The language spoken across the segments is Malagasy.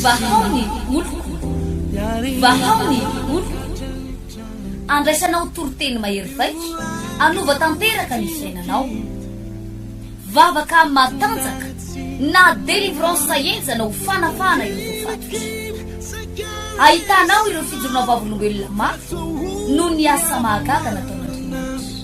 Vahao ny oloko, vahao ny oloko, andraisanao toriteny mahery vaika, anova tanteraka ny fiainanao. Vavaka matanjaka na délivrance henjana ho fanafahana ireo voafatotra. Ahitanao ireo fijoroana vavolombelona mafy noho ny asa mahagaga nataon'Andriamanitra.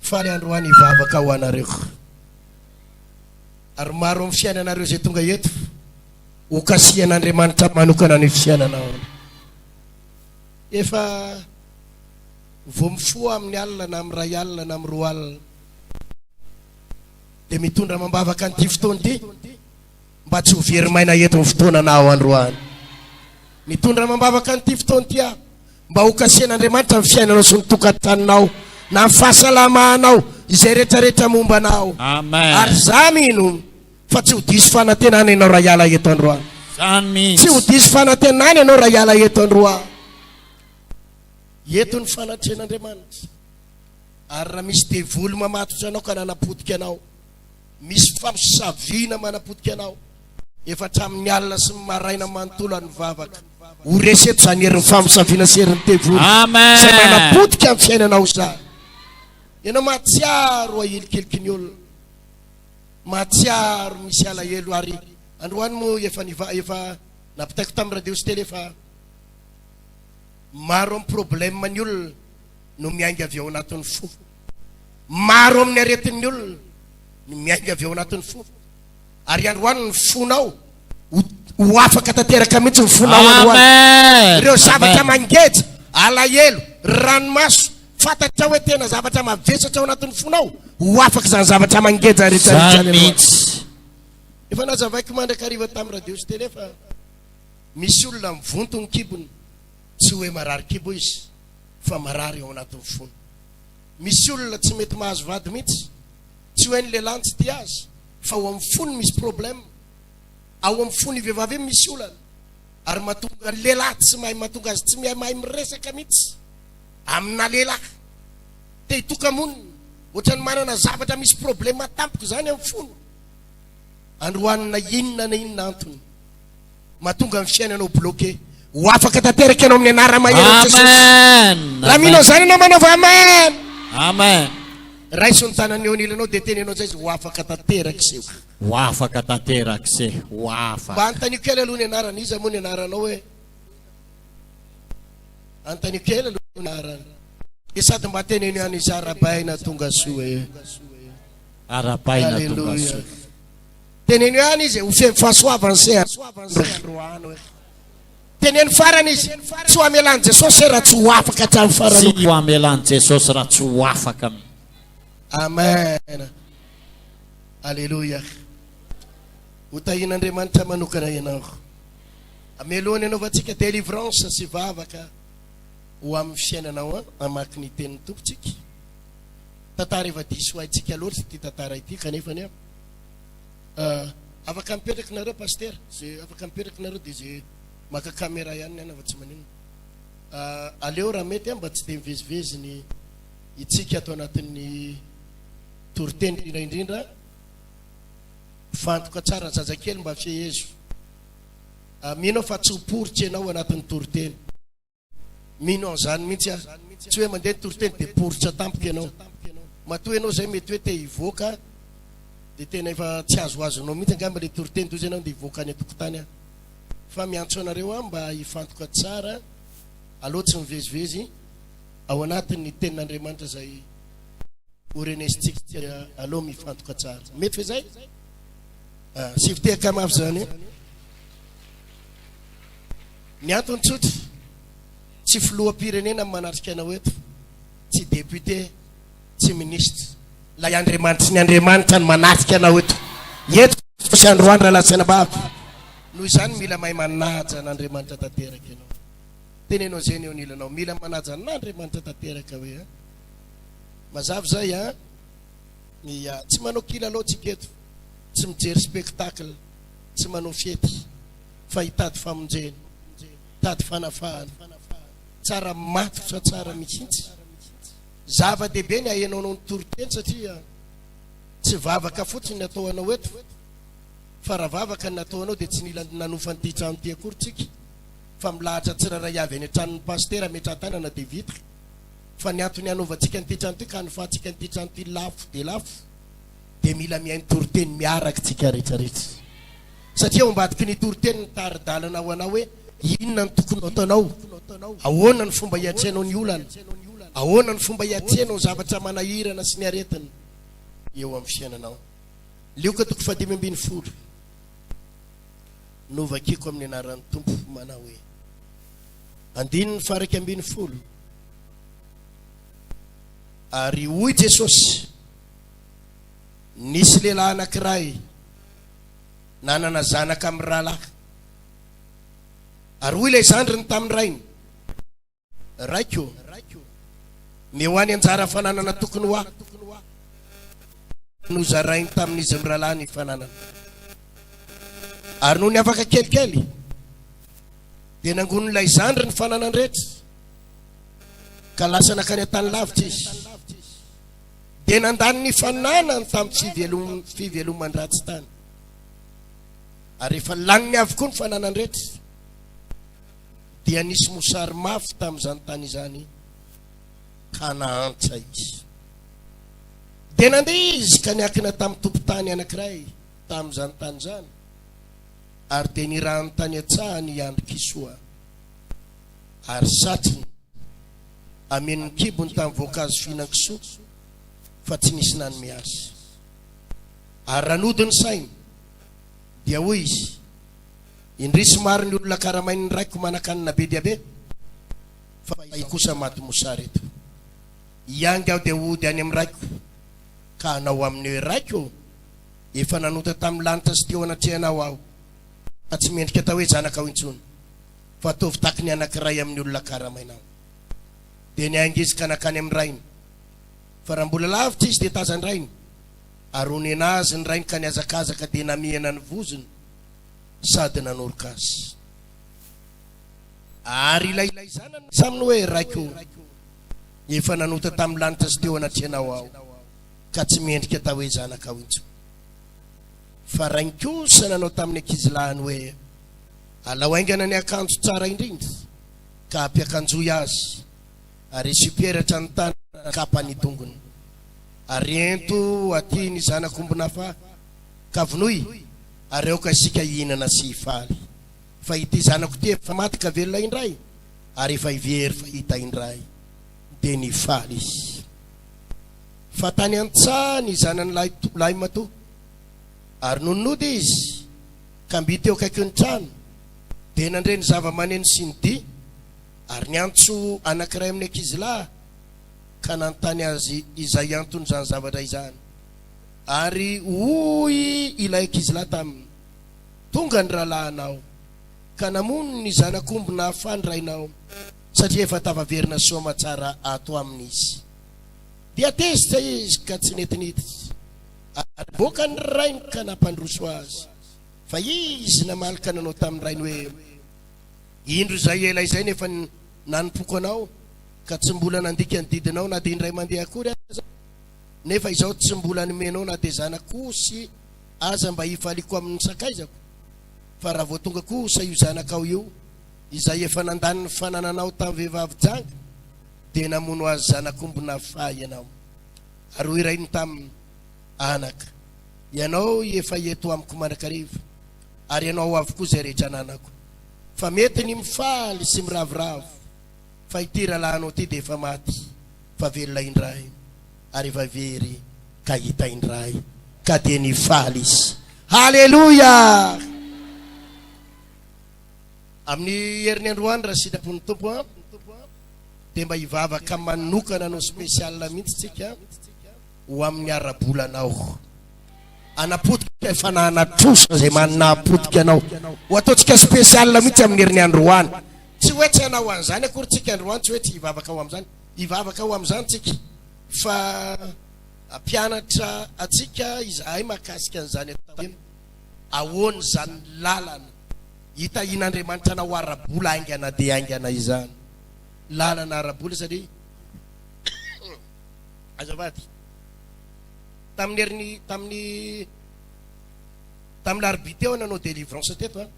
Faly androany hivavaka ho anareo. Ary maro amin'ny fiainanareo izay tonga eto, hokasihan'Andriamanitra manokana ny fiainanao. Efa vao mifoha amin'ny alina na amin'ny ray alina na amin'ny roa alina dia mitondra amam-bavaka an'ity fotoana ity. mba tsy ho very maina eto ny fotoana na ao androany. Mitondra amam-bavaka an'ity fotoana ity aho mba ho kasihan'Andriamanitra ny fiainanao sy ny tokantaninao na ny fahasalamanao izay retraretra momba anao. Amen. Ary za mino fa tsy ho diso fanantenana ianao raha hiala eto androany. Tsy ho diso fanantenana ianao raha hiala eto androany. Eto ny fanatrehan'Andriamanitra. Ary raha misy devoly mamatotra anao ka nanapotika anao, Misy famosaviana manapotika anao efa hatramin'ny alina sy ny maraina manontolo ary mivavaka ho resy eto izany herin'ny famosaviana sy herin'ny devoly izay manapotika ny fiainanao izany. Ianao mahatsiaro ahilikiliky ny olona, mahatsiaro misy alahelo ary androany moa efa niva efa napitaiko tamin'ny radio sy télé fa maro amin'ny problème ny olona no miainga avy ao anatin'ny fo. Maro amin'ny aretin'ny olona ny miainga avy ao anatin'ny fo. Ary androany ny fonao ho ho afaka tanteraka mihitsy ny fonao androany. Amen! Ireo zavatra Amen! mangeja, alahelo, ranomaso, fantatrao hoe tena zavatra mavesatra ao anatin'ny fonao, ho afaka izany zavatra mangeja rehetra rehetra Izany izany androany. mihitsy. Efa nazavaiko mandrakariva tamin'ny radio sy tele fa misy olona mivonto ny kibony. Tsy hoe marary kibo izy fa marary ao anatin'ny fony. Misy olona tsy mety mahazo vady mihitsy. Tsy hoe ny lehilahy no tsy tia azy fa ao amin'ny fony misy problème. Ao amin'ny fon'ny vehivavy io misy olana ary mahatonga ny lehilahy tsy mahay mahatonga azy tsy mihay mahay miresaka mihitsy amina lehilahy. Te hitoka-monina ohatran'ny manana zavatra misy problème tampoka izany amin'ny fony. Androany na inona na inona antony. Mahatonga ny fiainanao bloqué. Ho afaka tanteraka ianao amin'ny anara-mahery Jesosy. Amen. Raha mino an'izany ianao manaova Amen. Amen. Raiso ny tanany eo anilanao dia teny ianao izay izy ho afaka tanterak'izay. Ho afaka tanterak'izay. Ho afaka. Mba anontaniako kely aloha ny anarany. Iza moa ny anaranao hoe? Anontaniako kely aloha ny anarany. Dia sady mba teneno ihany izy arabaina tonga soa e. Arabaina tonga soa. Teneno ihany izy ho seho fahasoavany se androany. Teneno farany izy tsy ho amelan'i Jesosy se raha tsy ho afaka hatramin'ny farany. Tsy ho amelan'i Jesosy raha tsy ho afaka. Amen. Alléluia. Ho tahin'Andriamanitra manokana ianao. Amelohany anaovantsika délivrance sy vavaka ho amin'ny fiainanao amaky ny tenin'ny tompontsika. Tantara efa diso haintsika loatra ity tantara ity kanefa ny Afaka mipetraka nareo pasitera, ze afaka mipetraka nareo de ze maka camera ihany ny anah fa tsy maninona. Aleo raha mety an mba tsy de mivezivezy ny hitsika ato anatin'ny toriteny indrindra indrindra mifantoka tsara ny zazakely mba fehezo. Mino aho fa tsy ho poritra ianao anatin'ny toriteny. Mino an'izany mihitsy aho. Tsy hoe mandeha ny toriteny dia poritra tampoka ianao. Matoa ianao izay mety hoe te hivoaka dia tena efa tsy azoazonao mihitsy angamba ilay toriteny toy izay ianao andeha hivoaka any an-tokotany aho. Fa miantso anareo aho mba hifantoka tsara aloha tsy mivezivezy ao anatin'ny tenin'Andriamanitra izay horenesintsika aloha mifantoka tsara. Mety ve izay? Ah, sivy tehaka mafy izany. Ny antony tsotra, tsy filoham-pirenena no manatrika anao eto, tsy député, tsy ministre. Ilay Andriamanitry ny Andriamanitra no manatrika anao eto. Eto Jesosy andro andro lalatsy anabaviko. Noho izany mila mahay manaja an'Andriamanitra tanteraka ianao. Teneno an'izay ny eo anilanao. Mila manaja an'Andriamanitra tanteraka hoe an. Mazava izay an. Ia. Tsy manao kilalao tsika eto. Tsy mijery spectacle. Tsy manao fety. fa hitady famonjena, hitady fanafahana. Tsara matotra tsara mihitsy. Zava-dehibe ny ahenao noho ny toriteny satria tsy vavaka fotsiny ny atao anao eto fa raha vavaka ny atao anao dia tsy nila nanofa an'ity trano ity akory tsika fa milahatra tsirairay avy any an-tranon'ny pasitera ametraha-tanana dia vita. Fa ny antony hanaovantsika an'ity trano ity ka hanofahantsika an'ity trano ity lafo dia lafo dia mila mihaino toriteny miaraka tsika rehetra rehetra satria ao ambadiky ny toriteny ny taridalana ho anao hoe inona ny tokony ataonao ahoana ny fomba hiatrehanao ny olana ahoana ny fomba hiatrehanao zavatra manahirana sy ny aretina eo amin'ny fiainanao lioka toko fadimy ambin'ny folo novakiko amin'ny anaran'ny tompo manao hoe andininy faraika ambin'ny folo ary hoy jesosy Nisy lehilahy anankiray nanana zanaka mirahalahy. Ary hoy ilay zandriny tamin'ny rainy, Raiko, mihoahy ny anjara fananana tokony ho ahy. Ary nozarainy tamin'izy mirahalahy ny fananana. Ary nony afaka kelikely, dia nangonin'ilay zandry ny fananany rehetra, ka lasa nankany an-tany lavitra izy. dia nandany ny fananany tamin'ny fiveloman-dratsy tany. Ary efa laniny avokoa ny fananany rehetra, dia nisy mosary mafy tamin'izany tany izany, ka nahantra izy. Dia nandeha izy ka niakina tamin'ny tompon-tany anankiray tamin'izany tany izany, ary dia nirahany tany an-tsahany i Andry Kisoa, ary satriny. Amen'ny kibony tamin'ny voankazo fihinan-kisoa, fa tsy nisy nanome azy. Ary raha nody ny sainy, dia hoy izy, Indrisy maro ny olona karamain'ny raiko manan-kanina be dia be, fa izaho kosa maty mosary eto. Hiainga aho dia hody any amin'ny raiko, ka hanao aminy hoe, Raiko ô, efa nanota tamin'ny lanitra sy teo anatrehanao aho, ka tsy mendrika atao hoe zanakao intsony. fa toa vitaky ny anankiray amin'ny olona karamaina aminy. Dia niaing'izy ka nankany amin'ny rainy. Fa raha mbola lavitra izy dia tazan-drainy, ary honena azy ny rainy ka nihazakazaka dia namihana ny vozony sady nanoroka azy. Ary ilay zanany nilaza aminy hoe, Raiko ô, efa nanota tamin'ny lanitra sy teo anatrehanao aho, ka tsy mendrika atao hoe zanakao intsony. Fa rainy kosa nanao tamin'ny ankizilahiny hoe, Alao haingana ny akanjo tsara indrindra ka ampiakanjoy azy ary asio peratra ny tanana ary kapa ny tongony. Ary ento aty ny zanak'ombin'Afà ka vonoy ary aoka isika hihinana sy hifaly. Fa ity zanako ity efa maty ka velona indray ary efa hivery fa hita indray. Dia nifaly izy. Fa tany an-tsaha ny zanany lahy lahimatoa ary nony nody izy. Kambi teo akaikin'ny trano, dia nandre ny zavamaneno sy ny dihy, ary niantso anankiray amin'ny ankizilahy ka nanontany azy izay anton'izany zavatra izany. Ary hoy ilay ankizilahy taminy, Tonga ny rahalahinao, ka namono ny zanak'omby nahafaly rainao, satria efa tafaverina soamatsara ato aminy izy. Dia tezitra izy ka tsy nety niditra. Ary nivoaka ny rainy ka nampandroso azy. Fa izy namaly ka nanao tamin'ny rainy hoe, Indro izay ela izay no efa nanompoako anao, ka tsy mbola nandika ny didinao na dia indray mandeha akory aza, nefa izao tsy mbola nomenao na dia zanako osy aza mba hifaliako amin'ny sakaizako. Fa raha vao tonga kosa io zanakao io, izay efa nandany ny fanananao tamin'ny vehivavy janga, dia namono azy zanak'ombinà faha ianao. Ary ho irainy taminy, Anaka, ianao efa eto amiko mandrakariva, ary ianao ao avokoa izay rehetra ananako. Fa mety ny mifaly sy miravoravo, fa ity rahalahinao ity dia efa maty, fa velona indray, ary efa very ka hita indray. Ka dia nifaly izy. Haleloia! Amin'ny heriny androany raha sitrapo ny Tompo an, dia mba hivavaka manokana no spécial mihitsy tsika ho amin'ny ara-bolanao. Hanapotika ny fanahana trosa izay manana hapotika anao. Ho ataontsika spécial mihitsy amin'ny heriny androany. Tsy hoe tsy hanao an'izany akory tsika androany, tsy hoe tsy hivavaka ho amin'izany. Hivavaka ho amin'izany tsika fa hampianatra antsika izahay mahakasika an'izany atao iny. Ahoana izany lalana hitahian'Andriamanitra anao ara-bola haingana dia haingana izany? Lalana ara-bola satria azafady tamin'ny herin'ny tamin'ny tamin'ny larobia teo nanao délivrance teto an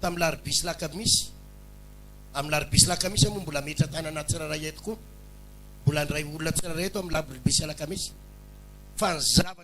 tamin'ny larobia sy lakamisy amin'ny larobia sy lakamisy moa mbola metra tanana tsirairay eto koa mbola ndray olona tsirairay eto amin'ny larobia sy lakamisy fa ny zavatra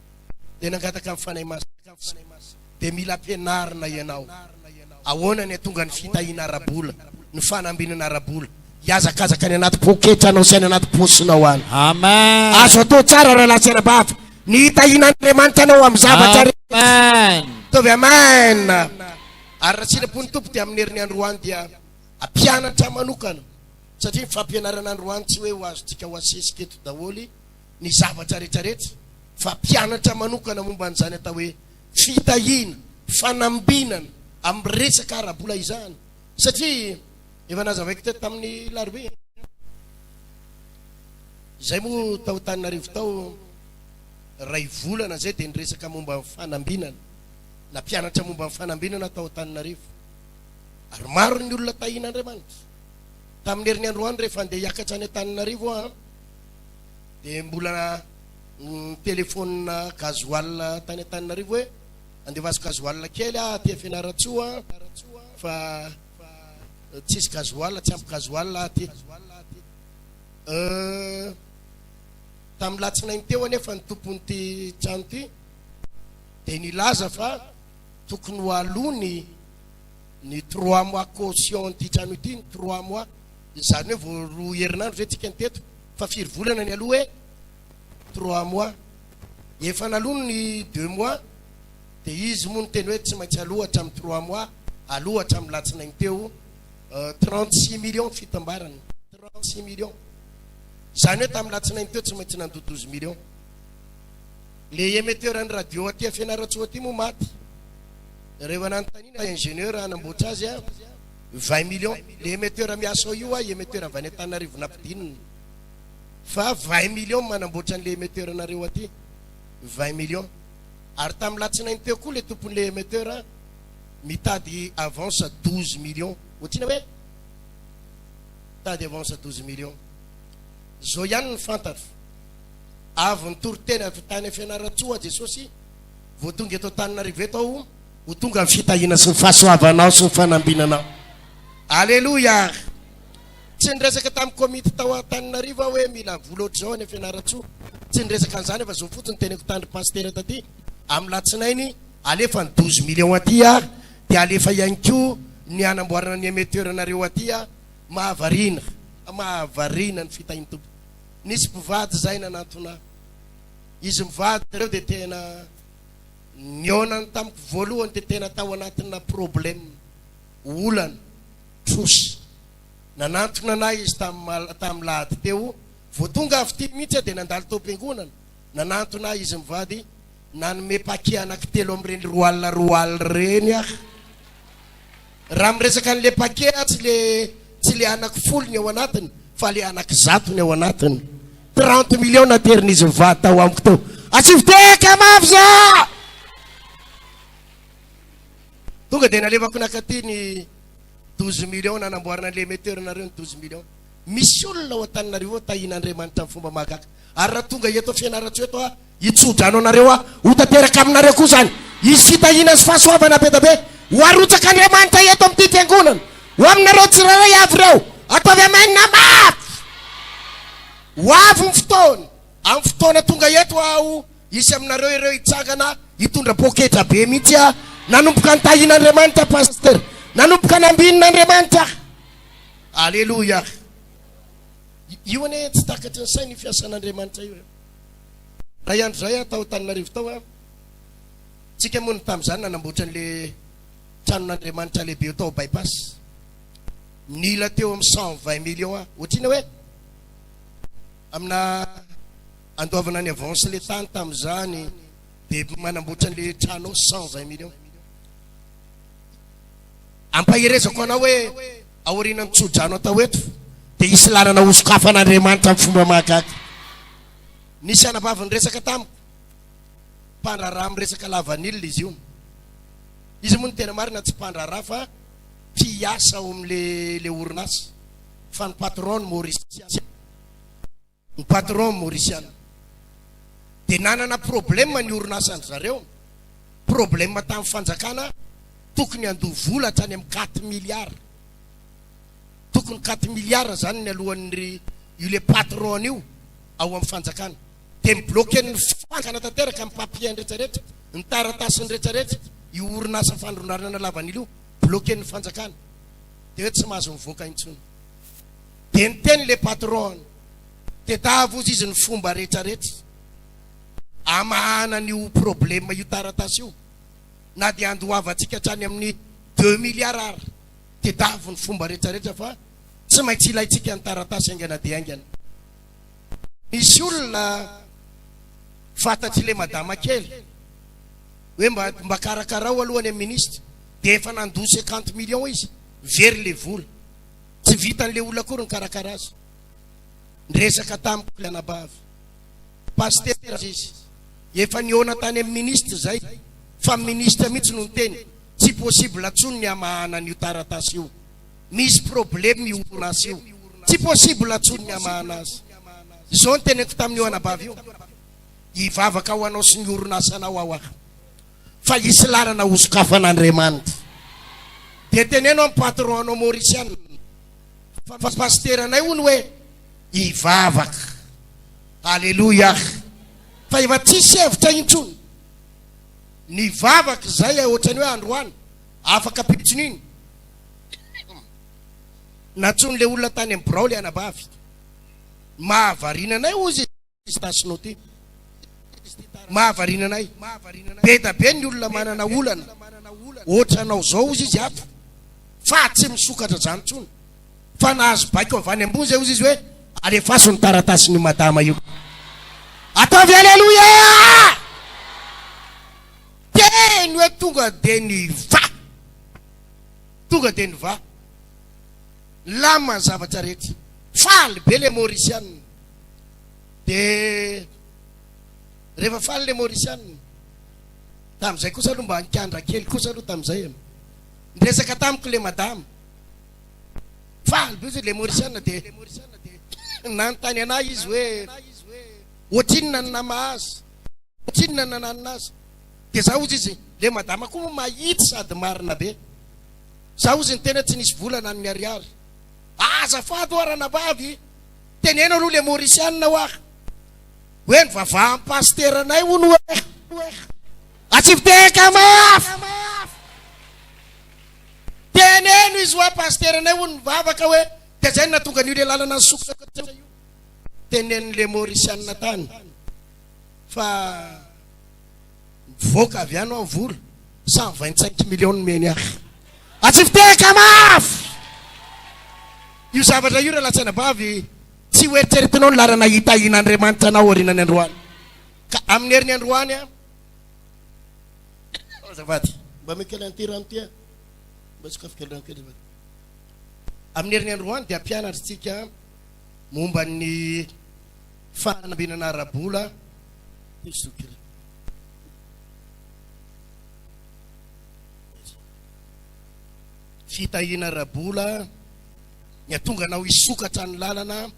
dia nangataka ny Fanahy Masina fotsiny. Dia mila ampianarina ianao. Ahoana ny hatonga ny fitahiana ara-bola, ny fanambinana ara-bola, hihazakazaka any anaty poketranao sy any anaty paosinao any. Amen. Azo atao tsara raha latsy ara-bava. Ny hitahiana Andriamanitra anao amin'ny zavatra rehetra. Amen. Taovy amen. Ary raha sitrapo ny Tompo dia amin'ny herin'ny androany dia ampianatra manokana satria ny fampianarana androany tsy hoe ho azontsika ho asesika eto daholo. ny zavatra rehetra rehetra fa mpianatra manokana momba an'izany atao hoe fitahiana, fanambinana amin'ny resaka ara-bola izany satria efa nazavaiko teto tamin'ny larobia izay moa tao Tananarivo tao ray volana izay dia niresaka momba ny fanambinana na mpianatra momba ny fanambinana tao Tananarivo ary maro ny olona tahiana Andriamanitra tamin'ny herin'ny androany rehefa andeha hiakatra any Tananarivo aho dia mbola nitelefaonina gasoil tany Antananarivo hoe andefaso gasoil kely aho aty Fianarantsoa fa tsisy gasoil, tsy ampy gasoil aho aty. Tamin'ny latsinainy teo anefa ny tompon'ity trano ity dia nilaza fa tokony ho aloany ny trois mois caution ity trano ity, ny trois mois. Izany hoe vao roa herinandro ve tsika no teto fa firy volana nialoha hoe trois mois? Efa naloa ny deux mois dia izy moa niteny hoe tsy maintsy aloha hatramin'ny trois mois, aloha hatramin'ny latsinainy teo trente six millions ny fitambarany, trente six millions. Izany hoe tamin'ny latsinainy teo tsy maintsy nandoa douze millions. Le emetteur an'ny radio aty Fianarantsoa aty moa maty. Rehefa nanontaniana ingénieur hanamboatra azy a. vingt millions le emetteur miasa ao io ahy emetteur avy any Antananarivo nampidinina fa vingt millions manamboatra an'le emetteur nareo aty vingt millions ary tamin'ny latsinainy teo koa le tompon'le emetteur mitady avance douze millions ohatrina hoe mitady avance douze millions zao ihany ny fantatro avy nitoriteny avy tany Fianarantsoa Jesosy vao tonga eto Antananarivo eto aho Ho tonga ny fitahiana sy ny fahasoavanao sy ny fanambinanao. Aleloia ary. Tsy niresaka tamin'ny komity tao Antananarivo aho hoe mila vola ohatr'izao any Fianarantsoa. Tsy niresaka an'izany aho fa izao fotsiny teneniko tany pasitera taty amin'ny latsinainy alefa ny douze millions aty ary dia alefa ihany koa ny hanamboarana ny emetteur nareo aty ary mahavariana mahavariana ny fitahian'ny Tompo. Nisy mpivady izay nanantona ahy. Izy mivady ireo dia tena nihaonany tamiko voalohany dia tena tao anatina problème, olana, trosa. Nanantona anay izy tamin'ny tamin'ny lahady teo, vao tonga avy ity mihitsy aho dia nandalo tao am-piangonana, nanantona ahy izy mivady, nanome paquet anaky telo amin'ireny roale roale ireny aho. Raha miresaka an'le paquet atsy le tsy le anako folo ny ao anatiny fa le anako zato ny ao anatiny. Trente millions naterin'izy mivady tao amiko teo. Atsy Viteka mafy za! Tonga dia nalevako nakaty ny douze millions nanamboarana an'le emetteur nareo ny douze millions. Misy olona ao Antananarivo ao tahiana Andriamanitra amin'ny fomba mahagaga. Ary raha tonga eto Fianarantsoa eto aho, Hitsodrano anareo aho, ho tanteraka aminareo koa izany. Hisy fitahiana sy fahasoavana be dia be ho arotsak'Andriamanitra eto amin'ity Fiangonana, ho aminareo tsirairay avy ireo. Ataovy Amen na mafy! Ho avy ny fotoana, amin'ny fotoana tonga eto aho, hisy aminareo ireo hitsangana hitondra poketra be mihitsy aho. Nanomboka nitahian'Andriamanitra Pasitera. Nanomboka nambinin'Andriamanitra aho. Aleloia! Io anie tsy takatry ny saina io fiasan'Andriamanitra io. Tay andro zay aho tao Antananarivo tao an! Tsika moa no tamin'izany nanamboatra an'le tranon'Andriamanitra lehibe eo tao Bypass. Nila teo amin'ny cent vingt millions aho. Ohatr'inona hoe amina andoavana ny avance le tany tamin'izany de manamboatra an'le trano eo cent vingt millions. Ampaherezako anao hoe. Aorian'ny tsodrano atao eto dia hisy lalana hosokafan'Andriamanitra amin'ny fomba mahagaga. Nisy anabavy niresaka tamiko, mpandraharaha miresaka lavanila izy io. Izy moa ny tena marina tsy mpandraharaha fa mpiasa ao amin'ilay orinasa, fa ny patron-ny Mauriciana. Ny patron Mauriciana dia nanana problème ny orinasany zareo, problème tamin'ny fanjakana tokony handoa vola hatrany amin'ny quatre milliards, tokony quatre milliards izany ny alohan'ny io le patron an'io ao amin'ny fanjakana, dia mi bloquer ny fanjakana tanteraka ny papiers rehetra rehetra, ny taratasiny rehetra rehetra, io orinasa fandrondanana lavanila io bloquer ny fanjakana, dia hoe tsy mahazo mivoaka intsony. Dia niteny le patron, tedavo ozy izy ny fomba rehetra rehetra amahana an'io probleme io taratasy io, na dia andoavantsika hatrany amin'ny deux milliards ary, tedavo ny fomba rehetra rehetra fa tsy maintsy ilaintsika ny taratasy haingana dia haingana. Misy olona fantatry le madama kely hoe mba mba karakarao aloha any amin'ny ministra, dia efa nandoa cinquante millions izy, very le vola. Tsy vitan'ilay olona akory nikarakara azy. Niresaka tamiko ilay anabavy. Pasitera aza izy. Efa nihaona tany amin'ny minisitra izay, fa ny minisitra mihitsy no niteny, tsy possible intsony ny hamahana an'io taratasy io. Misy problème io orinasa io. Tsy possible intsony ny hamahana azy. Izao no teneniko tamin'io anabavy io, Hivavaka ho anao sy ny orinasanao aho aho. fa hisy lalana ho sokafan'Andriamanitra. Dia teneno amin'ny patron anao Maurician fa pasiteranay hono hoe hivavaka. Aleloia. Fa efa tsisy hevitra intsony. Nivavaka izay eh, ohatrany hoe androany, afaka pitson'iny. Nantsoin'ilay olona tany amin'ny birao ilay anabavy. Mahavariana anay hozy. Pistache note. Mahavariana anay. Beda be ny olona manana olana otranao zao ozy izy ato fa tsy misokatra zany tsony fa nahazo baiko avy any ambony zay ozy izy hoe alefaso ny taratasiny io madama io ataovy aleloia teny hoe tonga de ny va tonga de ny va lama ny zavatra rehetra faly be le maurisianina Dia rehefa faly ilay Mauricianina, tamin'izay kosa aloha mba nikandra kely kosa aloha tamin'izay e. Niresaka tamiko ilay madama, faly be hozy ilay Mauricianina dia nanontany anà izy hoe ohatrinona ny namahazo, ohatrinona ny nananina azy. Dia za hozy izy, ilay madama koa moa mahitsy sady marina be. Za hozy ny tena tsy nisy vola na ny miharihary. Azafady ho'a ranabavy! Teneno aloha le Mauricianina hoa hoe ny vavahan'ny pasiteranay hono hoe atsipiteka mafy! Teneno izy hoa pasiteranay hono nivavaka hoe dia zay no nahatonga an'io le lalana nisokatra io. Teneno le Mauricianina tany fa. Mivoaka avy any hoa ny vola. Cent vingt cinq millions nomeny ahy. Atsify tehaka mafy! Io zavatra io Ralantsainabavy, tsy ho eritreretinao ny laharana hitahian'Andriamanitra anao aorianan'ny androany. Ka amin'ny herin'ny androany an! Azafady, mba omeo kely an'ity rano ity an! Mba sokafy kely rano kely azafady. Amin'ny herin'ny androany dia hampianatra antsika momba ny. fanambinana ara-bola Esokiri. Fitahiana ara-bola ny hatonga anao hisokatra ny lalana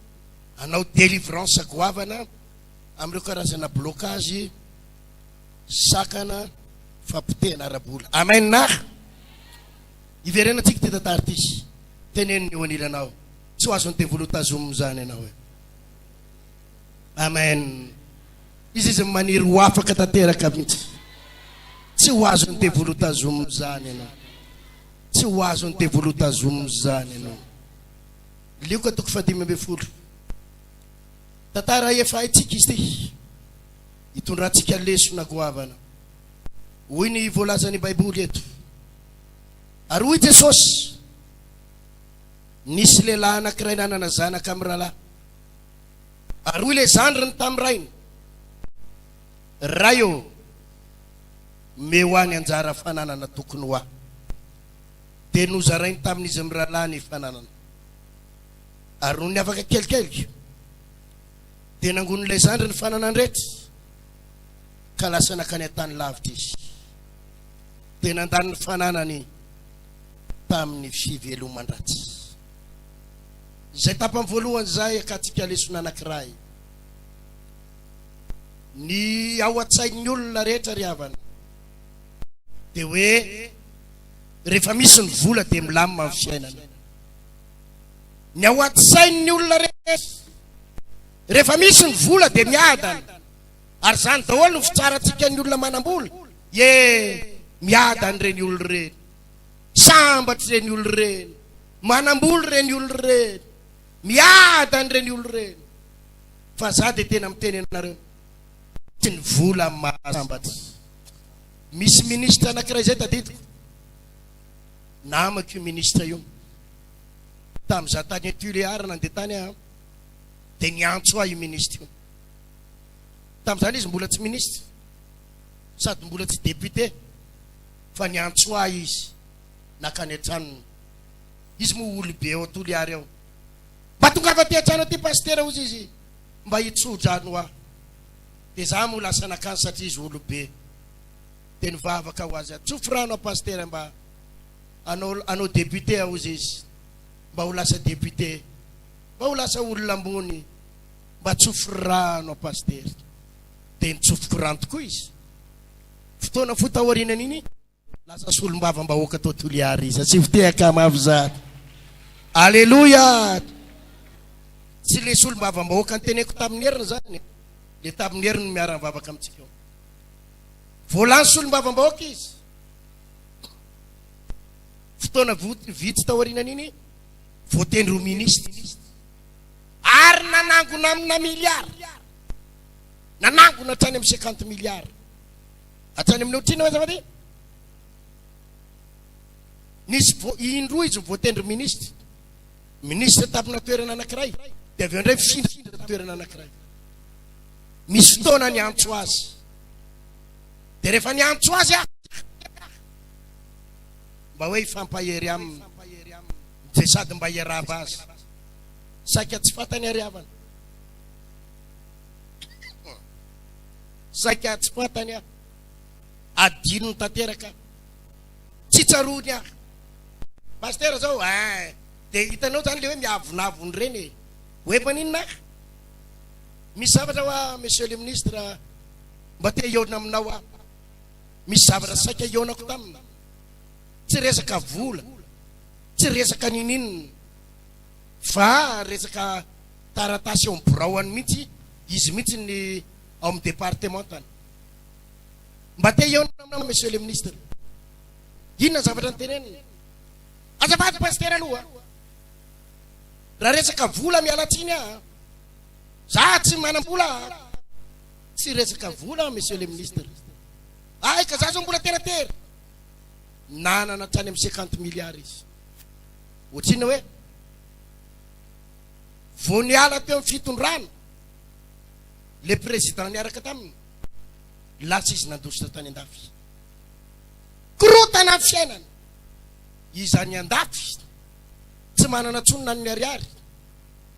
anao délivrance goavana amin'ireo karazana blocage sakana fampotehana ara-bola amen ah hiverenantsika ity tantara ity teneno ny eo anilanao tsy ho azon'ny devoly ho tazomina izany ianao e Amen. Izy izy maniry ho afaka tanteraka mihitsy. Tsy ho azon'ny devoly ho tazomina izany ianao. Tsy ho azon'ny devoly ho tazomina izany ianao. Lioka toko fahadimy ambin'ny folo. Tantara efa haintsika izy ity. Hitondrantsika lesona goavana. Hoy ny voalazan'ny Baiboly eto. Ary hoy Jesosy, Nisy lehilahy anankiray nanana zanaka mirahalahy. Ary hoy ilay zandriny tamin'ny rainy, Ray ô, omeo ahy ny anjara fananana tokony ho ahy. Dia nozarainy tamin'izy mirahalahy ny fananana. Ary nony afaka kelikely, dia nangonin'ilay zandry ny fananany rehetra, ka lasa nankany an-tany lavitra izy. Dia nandany ny fananany. tamin'ny fiveloman-dratsy. Izay tapany voalohany izay akantsika lesona anankiray. Ny ao an-tsain'ny olona rehetra ry havana dia hoe rehefa misy ny vola dia milamina ny fiainana. Ny ao an-tsain'ny olona rehetra rehefa misy ny vola dia miadana. Ary izany daholo no fitsarantsika ny olona manam-bola. Ye, miadana ireny olona ireny. Sambatra ireny olona ireny. Manam-bola ireny olona ireny. Miadana ireny olona ireny. Fa za dia tena miteny anareo. Tsy ny vola no mahasambatra. Misy ministra anankiray izay tadidiko. Namako io ministra io. Tamin'izaho tany Tuléar nandeha tany aho, dia niantso ahy io ministra io. Tamin'izany izy mbola tsy minisitra sady mbola tsy député fa niantso ahy izy nakany an-tranony. Izy moa olobe ao Toliary ao. Mba tongava aty an-trano aty Pasitera hozy izy mba hitso-drano aho. Dia izaho moa lasa nakany satria izy olobe. Dia nivavaka ho azy aho, tsofy rano aho Pasitera mba hanao hanao député aho hozy izy mba ho lasa député, mba ho lasa olona ambony. Mba tsofy rano an Pasitera. Dia nitsofiko rano tokoa izy. Fotoana fohy taorianan'iny, lasa solombavambahoaka tao Toliara izy. Asio fitehaka mafy izany. Aleloia! Tsy ilay solombavambahoaka niteneniko tamin'ny heriny izany e. Ilay tamin'ny heriny miara-mivavaka amintsika eo. Vao lany solombavambahoaka izy. Fotoana vitsy taorianan'iny, voatendry ho minisitra. Ary nanangona amina milliard. Nanangona hatrany amin'ny cinquante milliard. Hatrany amin'ny ohatr'inona moa azafady? Nisy vo- indroa izy voatendry ministra. Ministra tapina toerana anankiray, dia avy eo indray findra toerana anankiray. Misy fotoana ny antso azy. Dia rehefa ny antso azy ah, mba hoe hifampahery aminy, dia sady mba hiarahaba azy. Saika tsy fantany ary havana. Saika tsy fantany aho. Adinony tanteraka. Tsy tsaroany aho. Pasteur zao, eh, dia hitanao zany le hoe miavonavony reny e. Ho efa n'inona aho? Misy zavatra hoa monsieur le ministre mba te hihaona aminao aho. Misy zavatra saika hihaonako tamina. Tsy resaka vola, tsy resaka nininona. fa resaka taratasy eo amin'ny biraoany mihitsy izy mihitsy ny ao amin'ny departementany. Mba te hihaona aminao Monsieur le Ministre. Inona ny zavatra noteneniny? Azafady Pasitera aloha a! Raha resaka vola miala tsiny aho a! Za tsy manam-bola a! Tsy resaka vola Monsieur le Ministre. Hay ka za zao mbola tera tera! Nanana hatrany amin'ny cinquante milliards izy. Ho tsinona hoe vao niala teo amin'ny fitondrana le président niaraka taminy lasa izy nandositra tany andafy. Korotana ny fiainana. Izany andafy tsy manana tsony na ny ariary,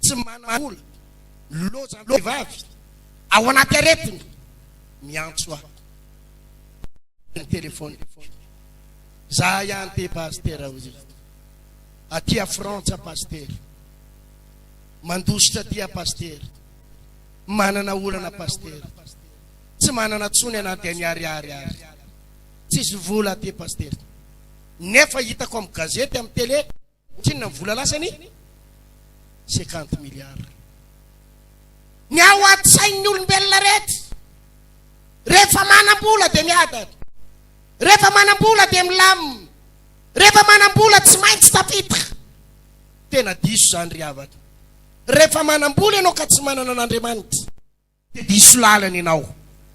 tsy manana vola, loza vehivavy ao anaty aretina miantso ahy. Ny téléphone. Zahay any te Pasitera ho hita aty a Frantsa Pasitera Mandositra aty a Pasitera Manana olana Pasitera Tsy manana tsony anaty any Ariary ary Tsisy vola aty Pasitera Nefa hitako am gazety am tele Tsinona ny vola lasa ny cinquante milliards. Ny ao an-tsain'ny olombelona rehetra, rehefa manam-bola dia miadana, rehefa manam-bola dia milamina, rehefa manam-bola tsy maintsy tafita. Tena diso izany ry havana. Rehefa manam-bola ianao ka tsy manana an'Andriamanitra. dia diso lalana ianao.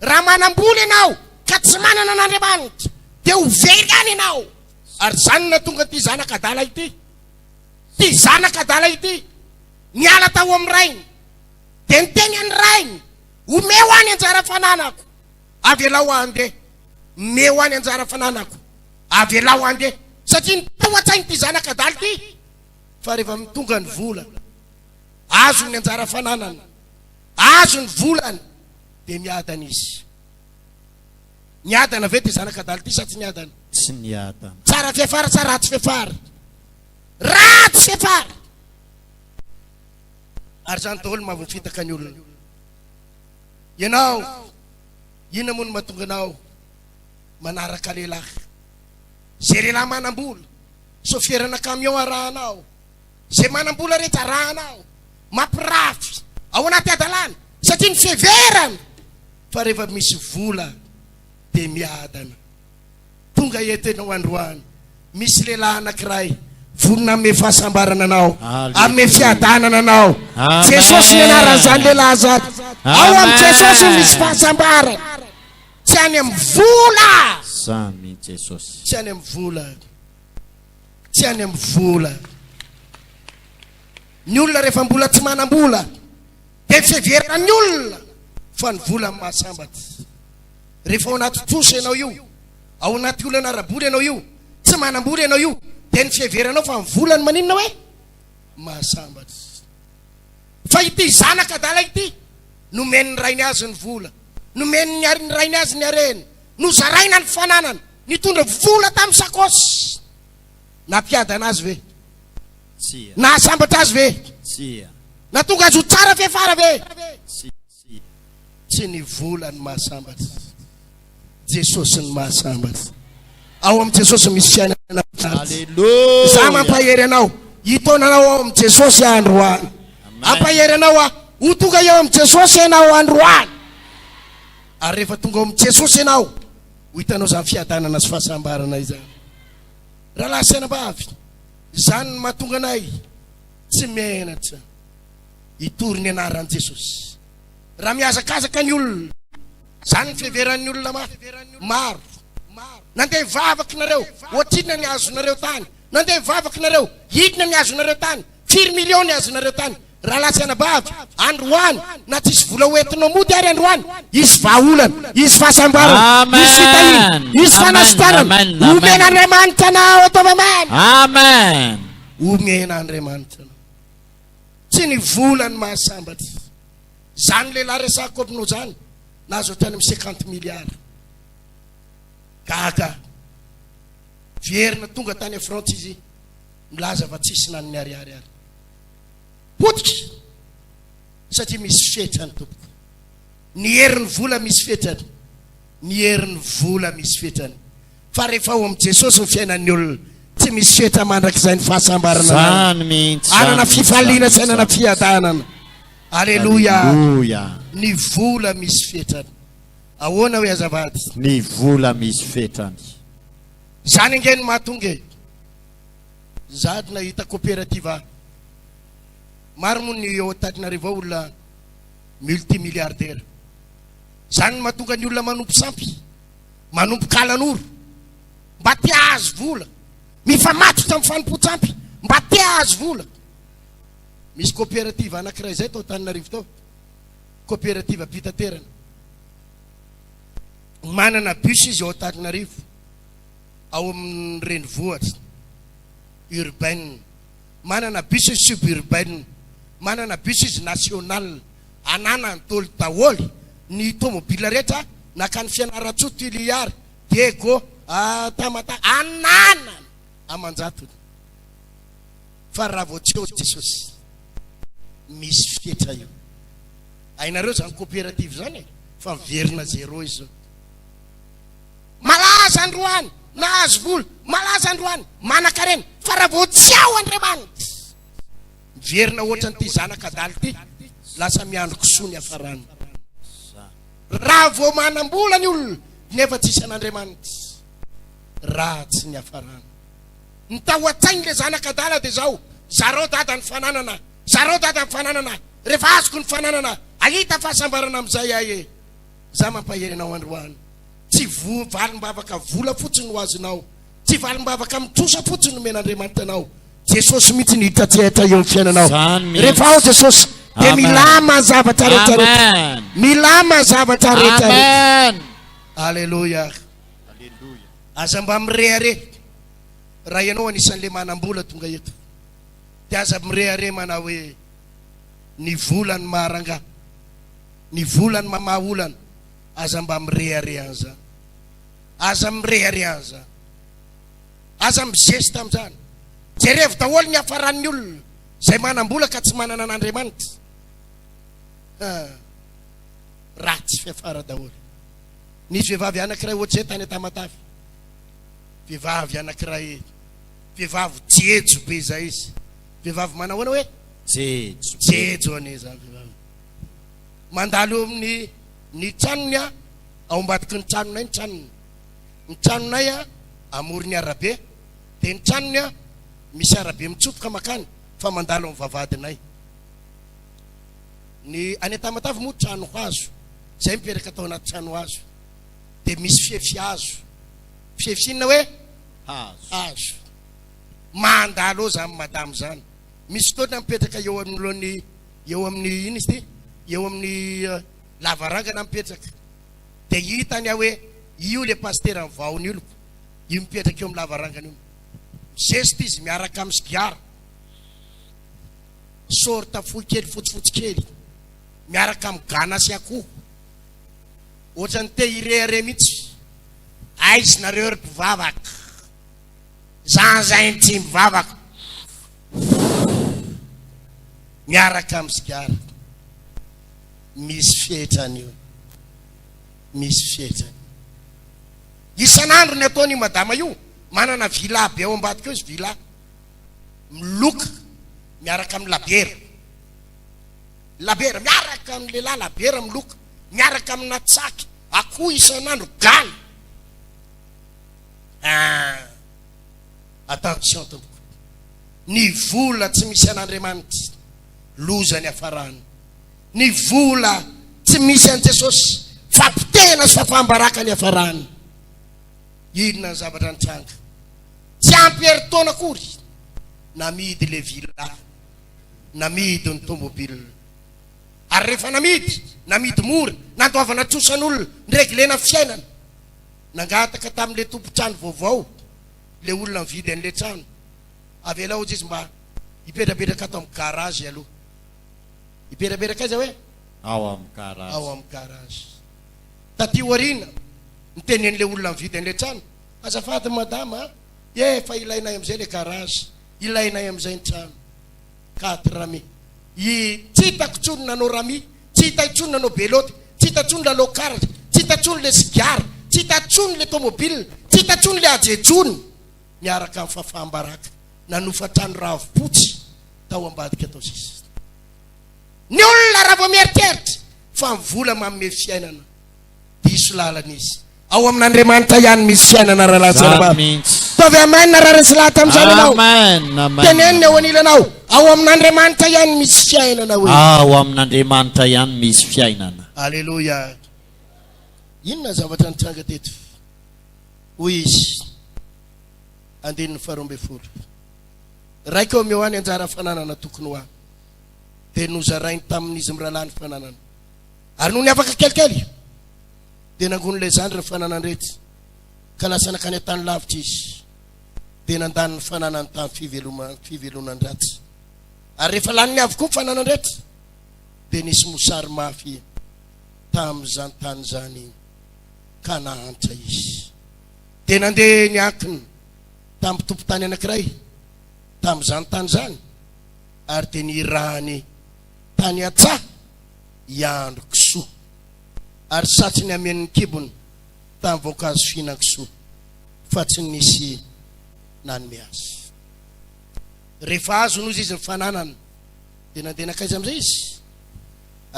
Raha manam-bola ianao ka tsy manana an'Andriamanitra, dia ho very any ianao. Ary izany no nahatonga an'ity zanaka adala ity. Ity zanaka adala ity niala tao amin'ny rainy, dia niteny an'ny rainy, Omeo ahy ny anjara fananako, avelao aho handeha. Omeo ahy ny anjara fananako, avelao aho handeha. Satria nitaho an-tsaina ity zanaka adala ity fa rehefa tonga ny vola, azony ny anjara fananany. Azo ny volany dia miadana izy. Niadana ve ity zanaka adala ity sa tsy niadana? Tsy niadana. Tsara fiafara sa ratsy fiafara? Ratsy fiafara! Ary izany daholo no mahavofitaka ny olona. Ianao, inona moa no mahatonga anao manaraka lehilahy? Izay lehilahy manam-bola, sôfierana camion arahanao. Izay manam-bola re jarahana ao, mampirafy ao anaty hadalana satria miseverana fa rehefa misy vola dia miadana. Tonga eto ianao androany, misy lehilahy anankiray vonona hanome fahasambarana anao, hanome fiadanana anao. Jesosy ny anaran'izany lehilahy izany. Ao amin'i Jesosy no misy fahasambarana. Tsy any amin'ny vola. Tsy any amin'ny vola. tsy any amin'ny vola. Ny olona rehefa mbola tsy manam-bola dia tsy heveran'ny olona fa ny vola no mahasambatra. Rehefa ao anaty trosa ianao io, ao anaty olana ara-bola ianao io, tsy manam-bola ianao io dia ny fiheveranao fa ny vola no maninona hoe mahasambatra. Fa ity zanaka adala ity nomen'ny rainy azy ny vola, nomen'ny rainy azy ny harena, nozaraina ny fananana Nitondra vola tamin'ny sakaosy. Nampiadana azy ve? Tsia. Nahasambatra azy ve? Tsia. Nahatonga azy ho tsara fiafara ve? Tsia. Tsy ny vola ny mahasambatra. Jesosy ny mahasambatra. Ao amin'i Jesosy misy fiainana mahafinaritra. Alléluia. Za mampahery anao hitaona anao ao amin'i Jesosy aho androany. Ampahery anao aho ho tonga eo amin'i Jesosy ianao androany. Ary rehefa tonga ao amin'i Jesosy ianao Ho hitanao izany fiadanana sy fahasambarana izany rahalahy sy anabavy, izany no mahatonga anay tsy menatra hitory ny anaran'i Jesosy. Raha mihazakazaka ny olona, izany ny fiheveran'ny olona maro. Nandeha vavaka nareo, ohatrinona ny azonareo tany? Nandeha vavaka nareo, inona ny azonareo tany? Firy millions ny azonareo tany? Rahalahy sy anabavy, androany, na tsisy vola hoentinao mody ary androany, hisy vahaolana, hisy fahasambarana, hisy fitahiana, hisy fanasitranana. Omena Andriamanitra anao, ataovy Amen. Amen. Omena Andriamanitra anao. Tsy ny vola ny mahasambatra. Zany lehilahy resahako aminao zany, nahazo hatrany amin'ny cinquante milliards. Gaga. Vierina tonga tany à France izy, nilaza fa tsisy na ny ariary ary. potika satria misy fetrany tompoko ny herin'ny vola misy fetrany ny herin'ny vola misy fetrany fa rehefa ao amin'i Jesosy ny fiainan'ny olona tsy misy fetra mandrakizay ny fahasambarana zany mihitsy anana fifaliana sy anana fiadanana aleloia ny vola misy fetrany ahoana hoe azavady ny vola misy fetrany zany ange ny mahatonga e Zahady nahita cooperative maro moa ny eo Antananarivo ao olona multimilliardaire. Zany no mahatonga ny olona manompo sampy, manompo kalanoro mba te ahazo vola, mifamatotra amin'ny fanompoan-tsampy mba te ahazo vola. Misy cooperative anankiray izay tao Antananarivo tao, cooperative am-pitaterana. Manana bus izy ao Antananarivo. ao amin'ny renivohitra, urbaine, manana bus izy suburbaine, manana bus izy national, ananan'toly daholo ny tomobila rehetra nankany Fianarantsoa, Toliary, Diego, Tamatave, ananany aman-jatony. Fa raha vao tsy eo Jesosy, misy fetra io. Hainareo izany coopérative izany e, fa miverina zéro izy io. Malaza androany, nahazo vola, malaza androany, manankarena, fa raha vao tsy ao Andriamanitra, miverina hoatran'ity zanaka adala ity, lasa miandry kisoa ny hafarany. Raha vao manam-bola ny olona, nefa tsisy an'Andriamanitra, ratsy ny hafarany. Ny tao an-tsain'ilay zanaka adala dia izao, zarao dada ny fananana, zarao dada ny fananana, rehefa azoko ny fananana, hahita fahasambarana amin'izay aho e. Za mampahery anao androany Tsy valim-bavaka vola fotsiny no azonao Tsy valim-bavaka amin'ny trosa fotsiny nomen'Andriamanitra anao Jesosy mihitsy no hita tsy hita eo amin'ny fiainanao Zany mihitsy Rehefa ao Jesosy dia Amen milama zavatra rehetra rehetra Amen Milama zavatra rehetra rehetra Amen Alléluia Alléluia Aza mba mirehareha Raha ianao anisan'ilay manam-bola tonga eto Dia aza mirehareha manao hoe Ny vola no maharangaha. Ny vola no mamaha olana. Aza mba mirehareha an'izany. Aza mirehareha an'izany. Aza mizesta amin'izany. Jerevo daholo ny hafaran'ny olona izay manam-bola ka tsy manana an'Andriamanitra. Haa. Ratsy fiafara daholo. Nisy vehivavy anankiray ohatr'izay tany Tamatave. Vehivavy anankiray, vehivavy jejo be izay izy. Vehivavy manao ahoana hoe? Jejo. Jejo anie izany vehivavy. Mandalo eo amin'ny ny tranony a, ao ambadiky ny tranonay ny tranony. Ny tranonay a amoron'ny arabe, dia ny tranony a misy arabe mitsofoka makany fa mandalo amin'ny vavahadinay. Ny any an-Tamatave moa trano hazo, izay mipetraka tao anaty trano hazo, dia misy fefy hazo. Fefy inona hoe? Hazo. Hazo. mandalo eo zany madame zany misy fotoana mipetraka eo anoloan'ny eo amin'ny ino izy ty eo amin'ny lavarangana mipetraka de hitany aho hoe io le pasitera ny vahona io io mipetraka eo amin'ny lavarangana io mizesta izy miaraka amin'ny sigara sorta fohy kely fotsifotsy kely miaraka amin'ny gana sy akoho ohatrany te hirehareha mihitsy aizy nareo ry mpivavaka Za zay ny tsy mivavaka miaraka amin'ny sigara. Misy fetrany io. Misy fetrany. Isan'andro ny ataony madama io, manana villa be ao ambadika ao izy villa. Miloka miaraka amin'ny labiera. Labiera miaraka amin'ny lehilahy labiera miloka miaraka amina tsaky akoho isan'andro galy. Ah! Attention tompoko. Ny vola tsy misy an'Andriamanitra, loza ny hafarany. Ny vola tsy misy an'i Jesosy, fapotehina sy fafaham-baraka ny hafarany. Inona ny zavatra nitranga? Tsy ampy herintaona akory, namidy le villa, namidy ny tomobile. Ary rehefa namidy, namidy mora, nandoavana trosan'olona, nireglena fiainana. Nangataka tamin'ilay tompon-trano vaovao ilay olona nividy an'ilay trano, avelao hozy izy mba hipetrapetraka ato amin'ny garage aloha. Hipetrapetraka aiza hoe? Ao amin'ny garage. Ao amin'ny garage. Taty aoriana, nitenenin'ilay olona nividy an'ilay trano, Azafady madama a, efa ilainay amin'izay ilay garage, ilainay amin'izay ny trano. Quatre Rami. I Tsy hita intsony nanao Rami, tsy hita intsony nanao Belote, tsy hita intsony lalao karatra, tsy hita intsony le sigara, tsy hita intsony le tomobile, tsy hita intsony le ajejony, niaraka amin'i Fafaham-baraka, nanofa trano ravim-potsy tao ambadika tao sisa. Ny olona raha vao mieritreritra fa ny vola manome fiainana, diso lalana izy. Ao amin'Andriamanitra ihany misy fiainana raha laza Zany anao. mihitsy. Fa avy Amen na rariny sy lahatra amin'izany ianao. Amen, amen. Teneno ny eo anilanao. Ao amin'Andriamanitra ihany misy fiainana hoe. Ao amin'Andriamanitra ihany misy fiainana. Aleloia. Inona zavatra nitranga teto? Hoy izy, andininy faharoa ambin'ny folo, Raiko amin'io aho ny anjara fananana tokony ho ahy, dia nozarainy tamin'izy mirahalahy ny fananana. Ary nony afaka kelikely, dia nangonin'ilay zandry ny fananan'irety, ka lasa nankany an-tany lavitra izy, dia nandany ny fananany tamin'ny fivelonan-dratsy. Ary rehefa laniny avokoa ny fananany rehetra, dia nisy mosary mafy tamin'izany tany izany, ka nahantra izy. Dia nandeha niankina tamin'ny mpitompon-tany anankiray tamin'izany tany izany, ary dia nirahany tany an-tsaha hiandry kisoa. Ary satry ny hamenon'ny kibony tamin'ny voankazo fihinan-kisoa, fa tsy nisy nanome azy. Rehefa azo nozy izy ny fananany, dia nandeha nankaiza amin'izay izy?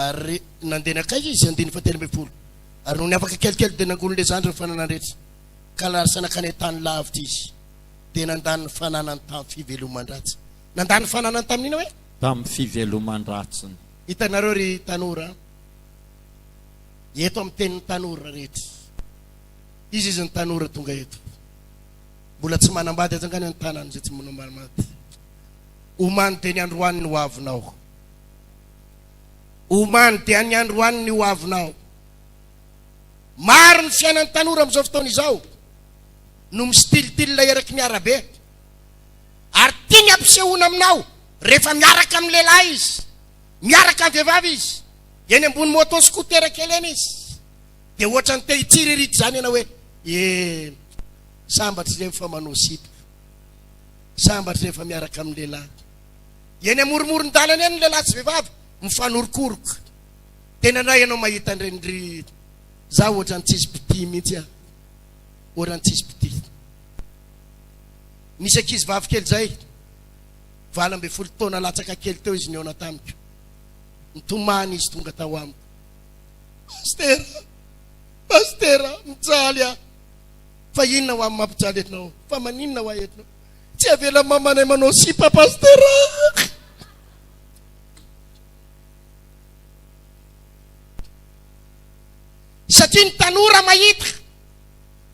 Ary nandeha nankaiza izy? Andininy fahatelo ambin'ny folo. Ary nony afaka kelikely dia nangonin'ilay zandriny ny fananany rehetra, ka larisa nankany an-tany lavitra izy, dia nandany ny fananany tamin'ny fiveloman-dratsiny. Nandany ny fananany tamin'inona hoe? Tamin'ny fiveloman-dratsiny. Hitanareo ry tanora a! Eto amin'ny tenin'ny tanora rehetra. Iza izy ny tanora tonga eto? Mbola tsy manambady aza angano ny tanana izay tsy manambady. Omaly dia ny androany ny hoavinao. Omaly dia ny androany ny hoavinao. Maro ny fiainan'ny tanora amin'izao fotoana izao no mistilitila eraky ny arabe. Ary tiany ampisehoana aminao rehefa miaraka amin'ny lehilahy izy, miaraka amin'ny vehivavy izy, eny ambony moto scooter kely eny izy, dia ohatran'ny te hitsiriritra izany ianao hoe, eh, sambatra izay efa manao sipa, sambatra izay efa miaraka amin'ny lehilahy. Eny amorimoron-dalana eny ny lehilahy sy vehivavy mifanorokoroka. Tena ndray ianao mahita an'ireny ry za ohatran'ny tsisy mpitia mihitsy aho, ohatran'ny tsisy mpitia. Nisy ankizivavy kely izay, valo ambin'ny folo taona latsaka kely teo izy nihaona tamiko. Nitomany izy tonga tao amiko. Pastera, pastera, mijaly aho. Fa inona ho amin'ny mampijaly anao? Fa maninona ho ahy anao? Tsy avela mamanay manao sipa pastera. Satria ny tanora mahita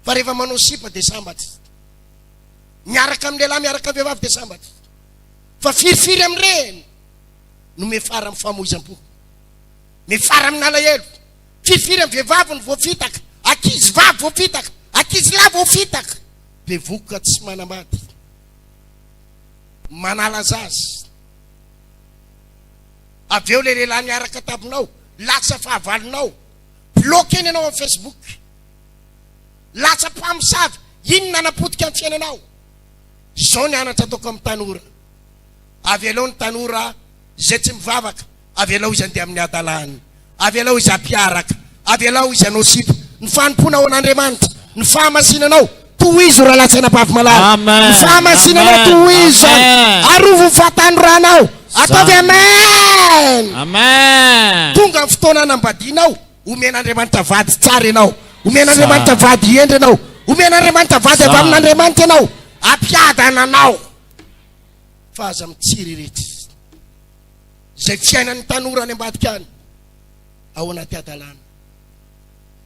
Fa rehefa manao sipa dia sambatra. Miaraka amin'ny lehilahy, miaraka amin'ny vehivavy dia sambatra. Fa firifiry amin'ireny no mefara amin'ny famoizam-po. Mefara amin'ny alahelo. Firifiry amin'ny vehivavy no voafitaka. Akizy vavy voafitaka. Akizy lahy voafitaka. Bevoka tsy manambady. Manala zaza. Avy eo ilay lehilahy miaraka taminao, lasa fahavalonao. Bloqué ny anao amin'ny Facebook. Latsa mpamosavy, iny nanapotika ny fiainanao. Izao ny anatra ataoko amin'ny tanora, avelao ny tanora izay tsy mivavaka, avelao izy handeha amin'ny hadalany, avelao izy hampiaraka, avelao izy hanao sipa. Ny fanompoana ao an'Andriamanitra, ny fahamasinanao, tohizo Ralatsy anabavy malala. Amen. Ny fahamasinanao Amen. tohizo zany. Amen. Arovo ny fahatanoranao. Ataovy Amen. Amen. Tonga ny fotoana hanambadianao. Omen'Andriamanitra vady tsara ianao. Omen'Andriamanitra vady hendry ianao. Omen'Andriamanitra vady avy amin'Andriamanitra ianao. Ampiadana anao fa aza mitsiriritra. Izay fiainan'ny tanora any ambadika any, ao anaty hadalana.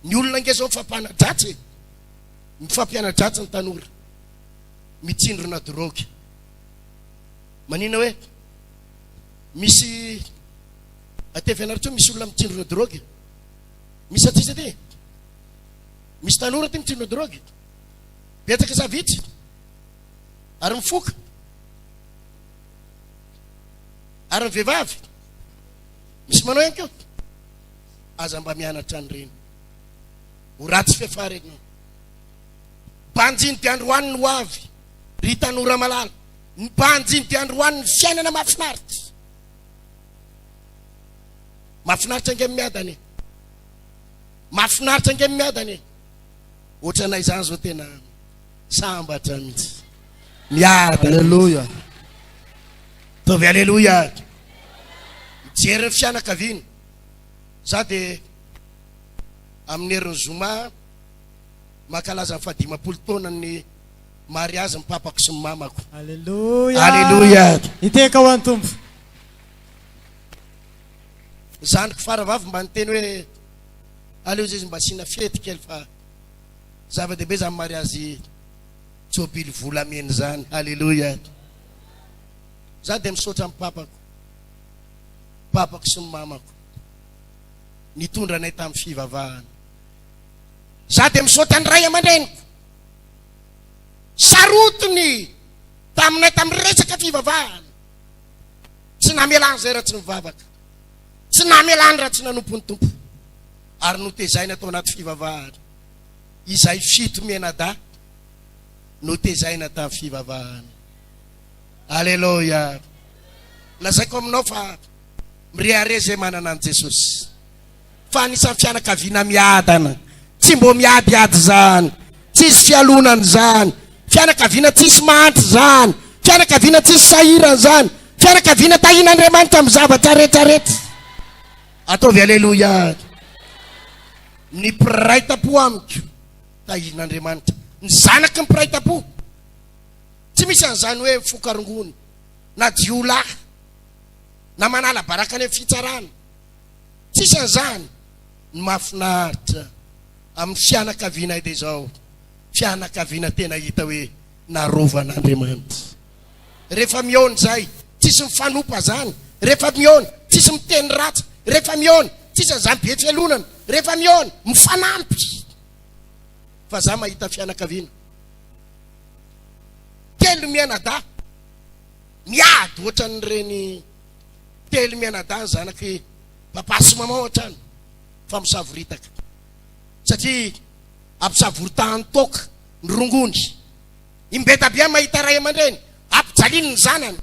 Ny olona ange izao mifampanadratsy e. Mifampianadratsy ny tanora. Mitsindrona drogue. Manina hoe misy Atevenarteo misy olona mitsindrona drogue? Misy aty izy aty? Misy tanora aty mitsindrona drogue? Betsaka sa vitsy? Ary mifoka? Ary ny vehivavy? Misy manao ihany koa? Aza mba mianatra an'ireny. Ho ratsy fefara ianao. Banjiny dia androany ny ho avy. Ry tanora malala, ny banjiny dia androany ny fiainana mahafinaritra. Mahafinaritra ange miadana e. Mahafinaritra ange miadana e. Ohatranay izany zao tena sambatra mihitsy. Miadana. Aleloia. Taovy aleloia. Mijery ny fianakaviana. Za dia amin'ny herin'ny zoma makalaza ny fahadimampolo taona ny mariazy ny papako sy ny mamako. Aleloia. Aleloia. Iteka ho an'ny Tompo. Zandriko faravavy mba niteny hoe aleo zay izy mba asiana fety kely fa zava-dehibe zany mariazy jobily volamena zany. Alléluia. Za dia misaotra amin'ny papako, papako sy ny mamako nitondra anay tamin'ny fivavahana. Za dia misaotra ny ray aman-dreniko sarotiny taminay tamin'ny resaka fivavahana. Tsy namelany izay raha tsy nivavaka. Tsy namelany raha tsy nanompo ny Tompo. Ary notezaina tao anaty fivavahana. Izay fito mianadahy notezaina tamin'ny fivavahana. Aleloia. Lazaiko aminao fa mirehareha izay manana an'i Jesosy. fa anisan'ny fianakaviana miadana tsy mbo miadiady zany tsisy fialonana zany fianakaviana tsisy mahantra zany fianakaviana tsisy sahirana zany fianakaviana tahin'Andriamanitra amin'ny zavatra rehetra rehetra ataovy aleloia ny mpiray tampo amiko tahin'Andriamanitra ny zanaky ny mpiray tampo tsy misy an'izany hoe fokarongony na jiolahy na manala baraka any amin'ny fitsarana Tsy isan'izany, ny mahafinaritra amin'ny fianakavianay dia izao, fianakaviana tena hita hoe narovan'Andriamanitra. Rehefa mihaona izay, tsisy mifanompa izany, rehefa mihaona, tsisy miteny ratsy, rehefa mihaona, tsisy an'izany be fialonana, rehefa mihaona, mifanampy. Fa izaho mahita fianakaviana telo mianadahy miady ohatran'ireny Telo mianadahy zanaky papa sy maman hatrany fa misavoritaka satria ampisavoritahany toaka ny rongony. I Mbeta Bia mahita ray aman-dreny ampijaliany ny zanany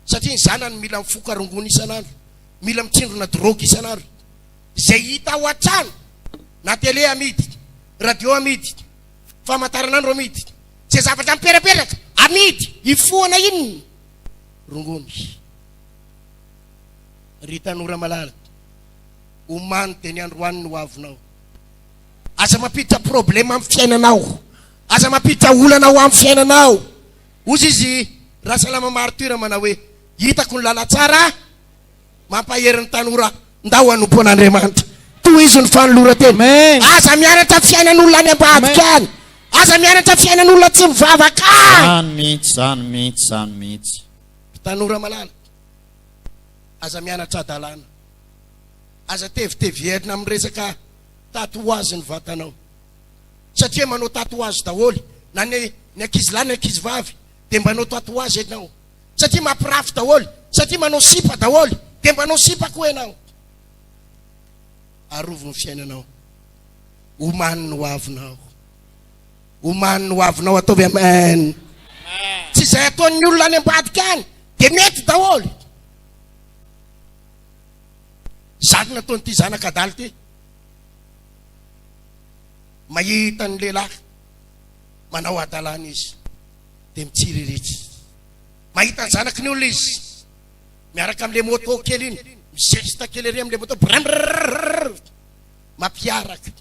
satria ny zanany mila mifoka rongony isan'andro, mila mitsindrona drogue isan'andro. Izay hita ao an-trano na tele amidy, radio amidy, famantaranandro amidy, izay zavatra miperaperaka amidy. Hifohana inona? rongony ry tanora malala omany dia ny androany no avinao aza mampiditra problème am fiainanao aza mampiditra olana ho am fiainanao ozy izy rasalama martyr manao hoe hitako ny lala tsara Mampahery ny tanora, Ndao hanompo an'Andriamanitra. Tohizo ny fanoloran-tena. Aza mianatra fiainan'olona any ambadika any. Aza mianatra fiainan'olona tsy mivavaka any. Zany mihitsy, zany mihitsy, zany mihitsy. Ry tanora malala, aza mianatra hadalana. Aza teviteviherina amin'ny resaka tatouage ny vatanao. Satria manao tatouage daholo, na ny ny ankizilahy ny ankizivavy dia mbanao tatouage ianao. satria mampirafy daholo, satria manao sipa daholo, dia mbanao sipa koa ianao. Arovy ny fiainanao, omany ny hoavinao, omany ny hoavinao, ataovy amen. Tsy izay ataon'ny olona any ambadika any dia mety daholo. Zany nataon'ity zanaka adala ity. Mahita ny lehilahy manao adalana izy. dia mitsiriritra. Mahita ny zanaky ny olona izy, miaraka amin'ilay moto kely iny, mizesta kely ery amin'ilay moto, brrrrrrrr, mampiaraka.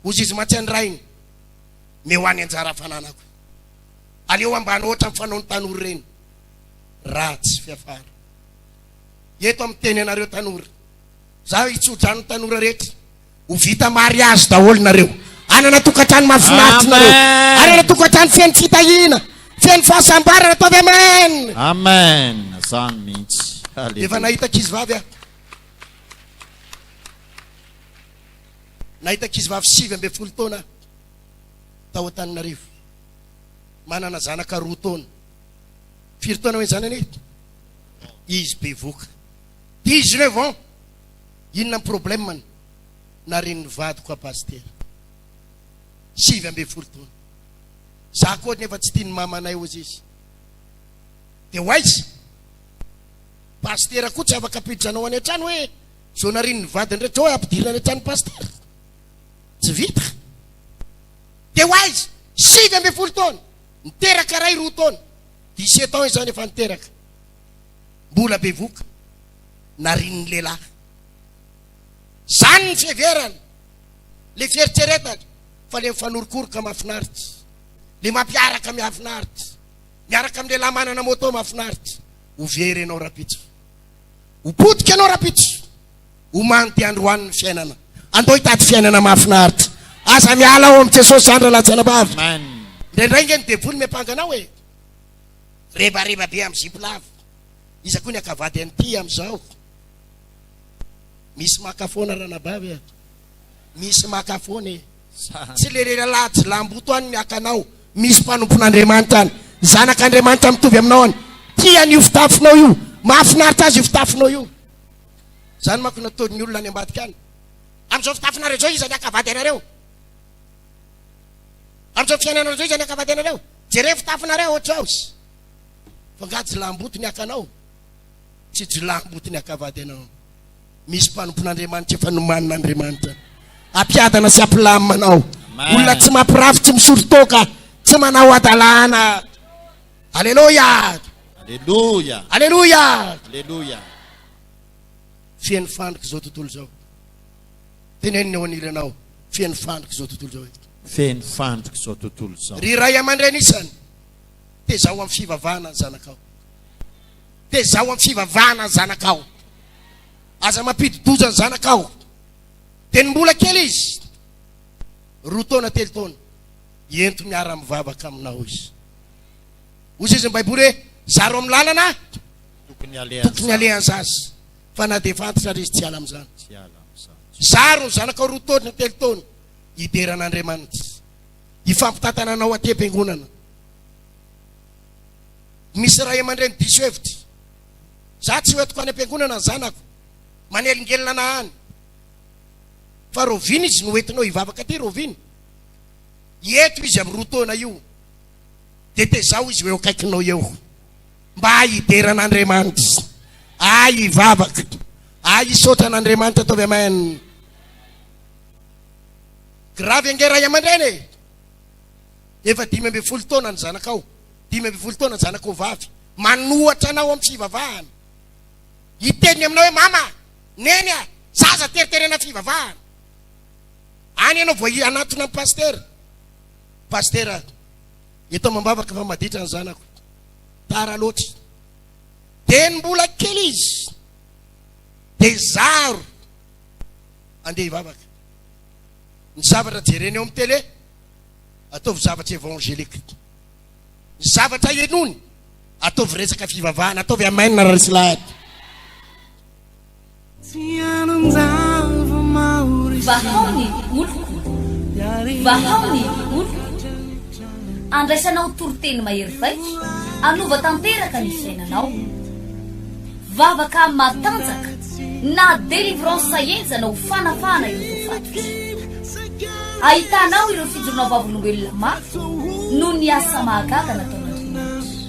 Hozy izy mantsy an'i rainy, me ho any anjara fananako. Aleo ambany ohatra amin'ny fanaon'ny tanora ireny. Ratsy fiafara. Eto amin'ny teny anareo tanora, za hitsodrano ny tanora rehetra, Ho vita mariazy daholo nareo. Hanana tokantrano mahafinaritra nareo. Hanana tokantrano feno fitahiana, feno fahasambarana. Ataovy amen. Amen. Zany mihitsy. Alléluia. Efa nahita ankizy vavy aho. Nahita ankizy vavy sivy ambin'ny folo taona tao Antananarivo. Manana zanaka roa taona. Firy taona hoe zanany? Izy bevoka. 19 ans. Inona ny problème ny naren'ny vadiko à pasitera? Sivy ambin'ny folo taona. Za koa nefa tsy tian'ny mamanay ozy izy. De ho aiza? Pasitera koa tsy afaka ampiditra anao any an-trano hoe zao naren'ny vadiny rehetra zao ampidirina any an-tranon'ny pasitera. Tsy vita. De ho aiza? Sivy ambin'ny folo taona. Niteraka ray roa taona. Dix-sept ans izany efa niteraka. mbola bevoka narian'ny lehilahy. Zany ny fiheverany, le fieritreretany fa le mifanorokoroka mafinaritra, le mampiaraka miafinaritra, miaraka amin'ny lehilahy manana moto mafinaritra, ho very ianao rapitso, ho potika ianao rapitso, ho manty androany ny fiainana, andao hitady fiainana mafinaritra, aza miala ao amin'i Jesosy zany ralahy tsy anabavy, indraindray nge ny devoly miampanga anao e. Rebareba be amin'ny zipo lava. Iza koa ny haka vady an'ity amin'izao? Misy maka foana ranabavy a! Misy maka foana e! Tsy le lehilahy jilamboto any ny hakanao, misy mpanompon'Andriamanitra any. Zanak'Andriamanitra mitovy aminao any. Tiany io fitafinao io. Mahafinaritra azy io fitafinao io. Izany manko no ataon'ny olona any ambadika any. Amin'izao fitafinareo izao iza ny haka vady anareo? Amin'izao fiainanareo izao izany ankabadianareo. Jereo fitafinareo ohatry house. Fa nga jilamboto ny akanao? Tsy jilamboto ny akabady anao. Misy mpanompon'Andriamanitra efa nomanin'Andriamanitra. Ampiadana sy ampilamina anao. Olona tsy mampirafy, tsy misoron-toaka, tsy manao hadalana. Aleloia! Aleloia! Aleloia! Aleloia! Feno fandrika izao tontolo izao. Tenenina ao anilanao, feno fandrika izao tontolo izao eto. Feno fandrika izao tontolo izao. Ry ray aman-dreny isany, tezaho amin'ny fivavahana ny zanakao. Tezaho amin'ny fivavahana ny zanakao. Aza mampidi-doza ny zanakao. Dia ny mbola kely izy, roa taona, telo taona, ento miara-mivavaka aminao izy. Hoy izy ny Baiboly hoe, zaro amin'ny lalana tokony alehan'ny zaza. Fa na dia efa antitra ary izy, tsy hiala amin'izany. Tsy hiala amin'izany. Zaro ny zanakao roa taona na telo taona, hidera an'Andriamanitra. Hifampitantana anao aty am-piangonana. Misy ray aman-dreny diso hevitra. Za tsy hoentiko any am-piangonana ny zanako. Manelingelina na any. Fa roviana izy no hoentinao hivavaka aty roviana? Hieto izy amin'ny roa taona io. Dia tezaho izy ho eo akaikinao eo. Mba hidera an'Andriamanitra aho hivavaka aho hisaotra an'Andriamanitra ataovy amen Gravy ange ray aman-dreny e Efa dimy ambin'ny folo taona ny zanakao Dimy ambin'ny folo taona ny zanakao vavy Manohatra anao amin'ny fivavahana Hiteny aminao hoe mama Neny a Zaza teriterena fivavahana Any ianao vao hanatona an'i pasitera Pasitera Eto amam-bavaka fa maditra ny zanako tara loatra. Dia ny mbola kely izy dia zaro andeha hivavaka. Ny zavatra jereny ao amin'ny télé, ataovy zavatra évangélique. Ny zavatra henony, ataovy resaka fivavahana, ataovy amen ry lahy. Vahao ny oloko, vahao ny oloko, andraisanao toriteny mahery vaika, anova tanteraka ny fiainanao. Vavaka matanjaka na délivrance henjana ho fanafahana ireo voafatotra. Ahitanao ireo fijoroana vavolombelona mafy noho ny asa mahagaga nataon'Andriamanitra.